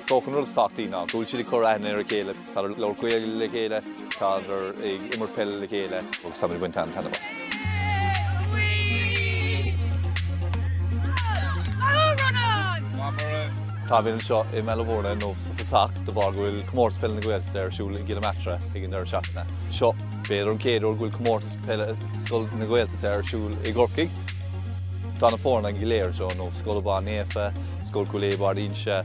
Is dócha an rud is tábhachtaí ná go bhfuil siad ag cur aithne ar a chéile, tá siad ag labhairt Gaeilge le chéile, tá siad ag imirt peile le chéile agus táimid ag baint an-taitneamh as. Táimid anseo i mBaile Mhúirne nó sa Phaiteach de bharr go bhfuil Comórtas Peile na Gaeltachta ar siúl i gCill na Martra ag an deireadh seachtaine seo. B'fhéidir an chéad uair go bhfuil Comórtas Peile Scoil na Gaeltachta ar siúl i gCorcaigh. Tá na foirne go léir anseo now, Scoil Abán Naofa, Scoil Chúil Aodha Barr d'Inse,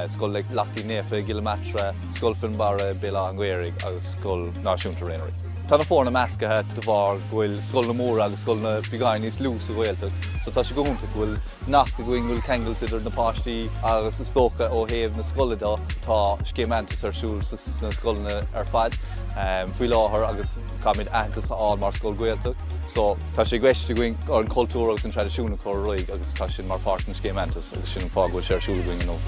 Scoil Lachtaín Naofa i gCill na Martra, Scoil Fhionnbarra Béal Átha an Ghaorthaidh agus Scoil Náisiúnta Réidh na nDoirí. Tá na foirne meascaithe de bharr go bhfuil scoileanna móra agus scoileanna beagáinín níos lú sa Ghaeltacht so tá sé go hiontach go bhfuil nasc againn, go bhfuil ceangailt idir na páistí agus is dócha ó thaobh na scoile de tá Scéim Aitheantas ar siúl sna scoileanna ar fad faoi láthair agus caithfimid aitheantas a fháil mar scoil Ghaeltacht so Tá sé i gceist againn ár ncultúr agus an traidisiún a chur ar aghaidh agus tá sin mar pháirt den scéim Aitheantas agus sin an fáth go bhfuil sé ar siúl againn inniu.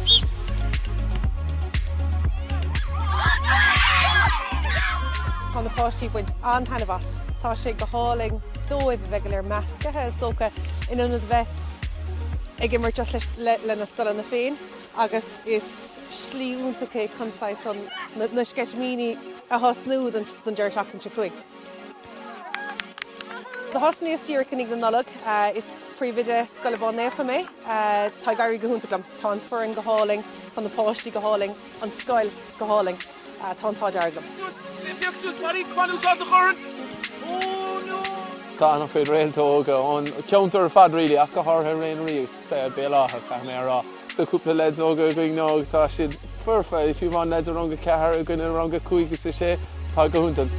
Tá na páistí ag baint an-taitneamh as. Tá sé go hálainn dóibh a bheith go léir meascaithe, is dócha, in ionad a bheith ag imirt just leis, lena scoileanna féin agus is slí iontach é chun saghas an, na sceitimíní a thosnú don deireadh seachtaine seo chugainn. Thosnaíos díreach i ndiaidh na Nollag. Is príomhoide Scoil Abán Naofa mé. Tá ag éirí go hiontach liom. Tá an foireann go hálainn, tá na páistí go hálainn, an scoil go hálainn. Tá an t-ádh dearg liom. Tá an-chuid réalta óga ón cheantar ar fad really, ach go háirithe Réidh na nDoirí. sea, Béal Átha, caithfidh mé a rá. Tá cúpla leaid óga againn now agus tá siad foirfe, fiú amháin leaid i rang a ceathair i gcoinne rang a cúig is a sé, tá go hiontach.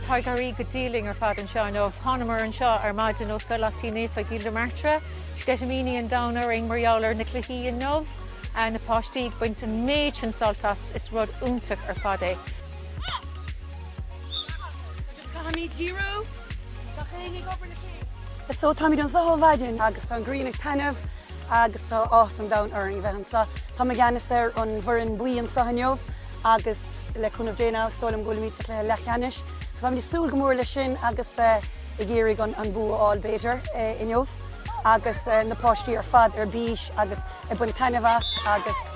Tá ag éirí go diail linn ar fad anseo inniu. Thánamar anseo ar maidin ó Scoil Lachtaín Naofa i gCill na Martra, sceitimíní an domhain orainn mar gheall ar na cluichí inniu, na páistí ag baint an méid sin sult as, is rud iontach ar fad é. Agus caithfimid díriú! Gach éinne ag obair le chéile. So táimid anseo ó mhaidin agus tá an ghrian ag taitneamh agus tá áthas an domhain orainn a bheith anseo. Táim i gceannas ar an bhfoireann buí anseo inniu agus le cúnamh Dé now is dóigh liom go bhfuilimid sa chluiche leathcheannais. So táimid ag súil go mór leis sin agus ag iarraidh an bua a fháil b'fhéidir inniu agus na páistí ar fad ar bís agus ag baint taitneamh as agus.